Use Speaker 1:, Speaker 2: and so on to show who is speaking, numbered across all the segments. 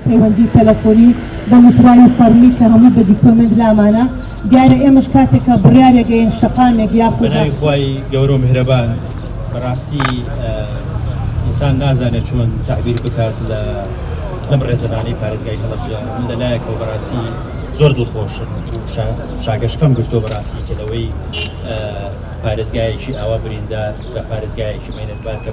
Speaker 1: پەیوەندی تەلەفۆنی بە نوسراوی فەڕمی کە هەمووی بە دیکۆمێنت لامانە دیارە ئێمەش کاتێک کە بڕیارێک گەین شەقامێک یا بەناوی خوای
Speaker 2: گەورە و میهرەبان بەڕاستی ئینسان نازانێت چۆن تعبیر بکات لە لەم ڕێزەبانەی پارێزگای هەڵەبجە من لە لایەکەوە بەڕاستی زۆر دڵخۆشن شاگەشکەم گرتۆ بەڕاستی کە لەوەی پارێزگایەکی ئاوا بریندار لە پارێزگایەکی مێنەتبار کە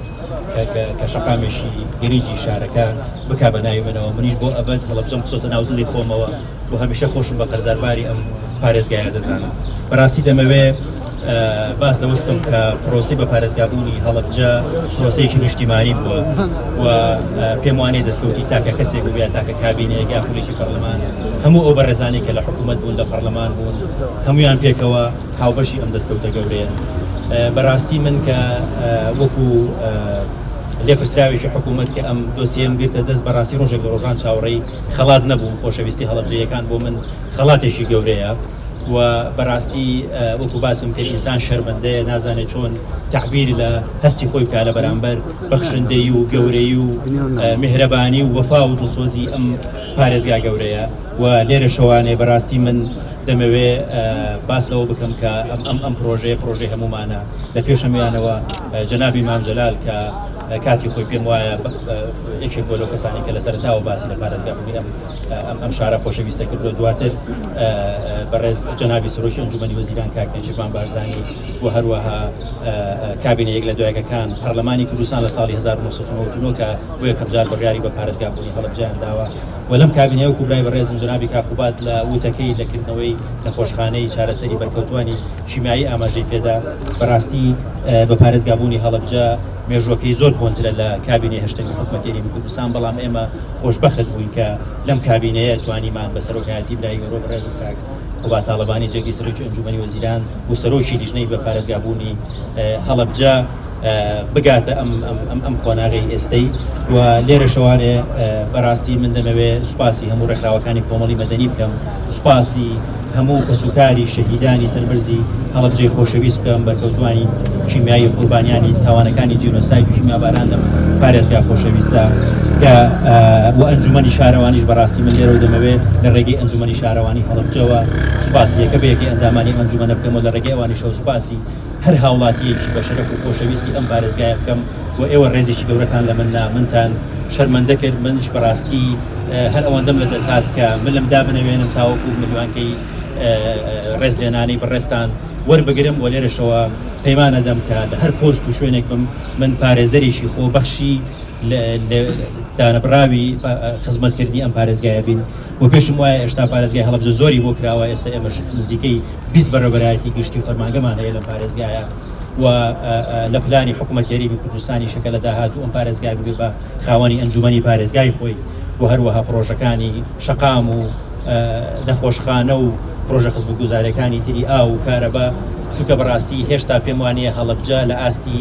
Speaker 2: کە شەقامێکی گەریجی شارەکە بکا بە ناوی منەوە منیش بۆ ئەبەد هەڵەبجەم بچۆتە ناو دڵی خۆمەوە بۆ هەمیشە خۆشم بە قەرزارباری ئەم پارێزگایە دەزانم بەڕاستی دەمەوێ باس لەوەش بکەم کە پرۆسی بە پارێزگابوونی هەڵەبجە پرۆسەیەکی نیشتیمانی بووە و پێم وانێ دەستکەوتی تاکە کەسێک بووە تاکە کابینەیەگا خولێکی پەرلەمان هەموو ئەو بەڕێزانانی کە لە حکوومەت بوون لە پەرلەمان بوون هەمویان پێکەوە هاوبەشی ئەم دەستکەوتە گەورەیەن. بەراستی من کە وەکو لێپرسراوێکی حکومەت کە ئەم دۆسیەیەم گرتە دەست بەراستی رۆژێک لە رۆژان چاوەڕێی خەڵات نەبووم، خۆشەویستی هەڵەبجەییەکان بۆ من خەڵاتێکی گەورەیە و بەراستی وەکو باسم کرد ئینسان شەرمەندەیە نازانێت چۆن تەعبیر لە هەستی خۆی بکات لە بەرامبەر بەخشندەیی و گەورەیی و میهرەبانی و وەفا و دڵسۆزی ئەم پارێزگا گەورەیە و لێرەشەوانێ بەراستی من دەمەوێ باس لەوە بکەم کە ئەم ئەم ئەم پرۆژەیە پرۆژەی هەموومانە لە پێشەمیانەوە جەنابی مام جەلال کە کاتی خۆی پێم وایە یەکێک بۆ لەو کەسانی کە لە سەرتاوە باسی لە پارێزگا بوونی ئەم ئەم ئەم شارە خۆشەویستە کردو دواتر بەڕێز جەنابی سەرۆکی ئەنجومەنی وەزیران کاک نێچیرڤان بارزانی و هەروەها کابینە یەک لە دوایەکەکان پەرلەمانی کوردستان لە ساڵی 1990 کە بۆ یەکەم جار بڕیاری بە پارێزگا بوونی هەڵەبجەیان داوە و لەم کابینەیە وەکو برای بەڕێزم جەنابی کاک قوباد لە وتەکەی لە کردنەوەی نەخۆشخانەی چارەسەری بەرکەوتوانی کیمیایی ئاماژەی پێدا بەڕاستی بە پارێزگابوونی هەڵەبجە مێژوەکەی زۆر کۆنترە لە کابینەی هەشتەمی حکوومەتێری کوردستان بەڵام ئێمە خۆشببخت بووین کە لەم کابینەیە توانیمان بە سەرۆکایەتی برای گەۆ بەڕێزم کاک قوباد تاڵەبانی جێگری سەرۆکی ئەنجومی وەزیران و سەرۆکی لیژنەی بە پارێزگابوونی هەڵەبجە بگاتە ئەم ئەم ئەم ئەم قۆناغی ئێستەی و لێرە شەوانێ بەڕاستی من دەمەوێ سوپاسی هەموو ڕێکخراوەکانی کۆمەڵی مەدەنی بکەم سوپاسی هەموو کەسوکاری شەهیدانی سەربەرزی هەڵەبجەی خۆشەویست بکەم بەرکەوتوانی کیمیایی قوربانیانی تاوانەکانی جینۆساید و کیمیاباران لەم پارێزگا خۆشەویستە کە و ئەنجومەنی شارەوانیش بەڕاستی من لێرە دەمەوێت لە ڕێگەی ئەنجومەنی شارەوانی هەڵەبجەوە سوپاسی یەکە بەیەکی ئەندامانی ئەنجومەنە بکەمەوە لە ڕێگەی ئەوانی شەو سوپاسی هەر هاوڵاتییەکی بەشەرەف و خۆشەویستی ئەم پارێزگایە بکەم و ئێوە ڕێزێکی گەورەتان لە من نا، منتان شەرمەندە کرد، منیش بەڕاستی هەر ئەوەندەم لە دەست هات کە ملم دا بنەوێنم تاوەکو ملیۆنکەی ڕێزلێنانی بەڕێزتان وەربگرم و لێرەشەوە پەیمان ئەدەم کە لە هەر پۆست و شوێنێک بم من پارێزەرێکی خۆبەخشی دانەبڕاوی خزمەتکردنی ئەم پارێزگایە بین. و پێشم وایە ئێشتا پارێزگای هەڵەبجە زۆری بۆ کراوە ئێستە ئێمەش نزیکەی بیست بەڕێوەبەرایەتی گشتی و فەرمانگەمان هەیە لەم پارێزگایە و لە پلانی حکوومەت هەرێمی کوردستانیشە کە لە داهاتوو ئەم پارێزگای ببێ بە خاوەنی ئەنجوومەنی پارێزگای خۆی و هەروەها پڕۆژەکانی شەقام و نەخۆشخانە و پڕۆژە خزمەتگوزاریەکانی تری ئاو و کارەبا چونکە بەڕاستی هێشتا پێم وانەیە هەڵەبجە لە ئاستی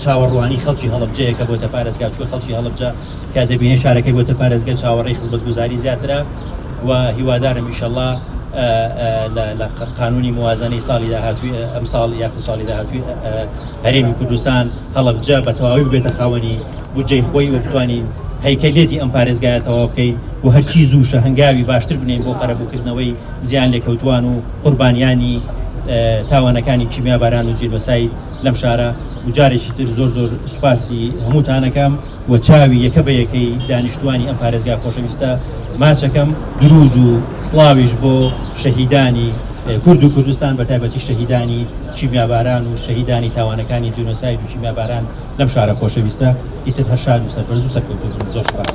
Speaker 2: چاوەڕوانی خەڵکی هەڵەبجەیە کە بۆتە پارێزگا چووە خەڵکی هەڵەبجە تکا دەبینێ شارەکەی بۆتە پارێزگە چاوەڕێی خزمەتگوزاری زیاترە و هیوادارم ئیشەڵا لە قانونی موازنەی ساڵی داهاتوی ئەم ساڵ یاخو ساڵی داهاتوی هەرێمی کوردستان هەڵبجە بە تەواوی بێتە خاوەنی بودجەی خۆی و بتوانین هەیکەلێتی ئەم پارێزگایە تەواو بکەین و هەرچی زووشە هەنگاوی باشتر بنین بۆ قەرەبووکردنەوەی زیان لێکەوتوان و قوربانیانی تاوانەکانی کیمیا باران و جیربەسای لەم شارە وجارێکی تر زۆر زۆر سوپاسی هەمووتانەکەم. و چاوی یەکە بە یەکەی دانیشتوانی ئەم پارێزگا خۆشەویستە ماچەکەم، دروود و سڵاویش بۆ شەهیدانی کورد و کوردستان بە تایبەتی شەهیدانی کیمیاباران و شەهیدانی تاوانەکانی جینۆساید و کیمیاباران لەم شارە خۆشەویستە، ئیتر هەر شاد و سەربەرز و سەرکەوتوو بن. زۆر سوپاس.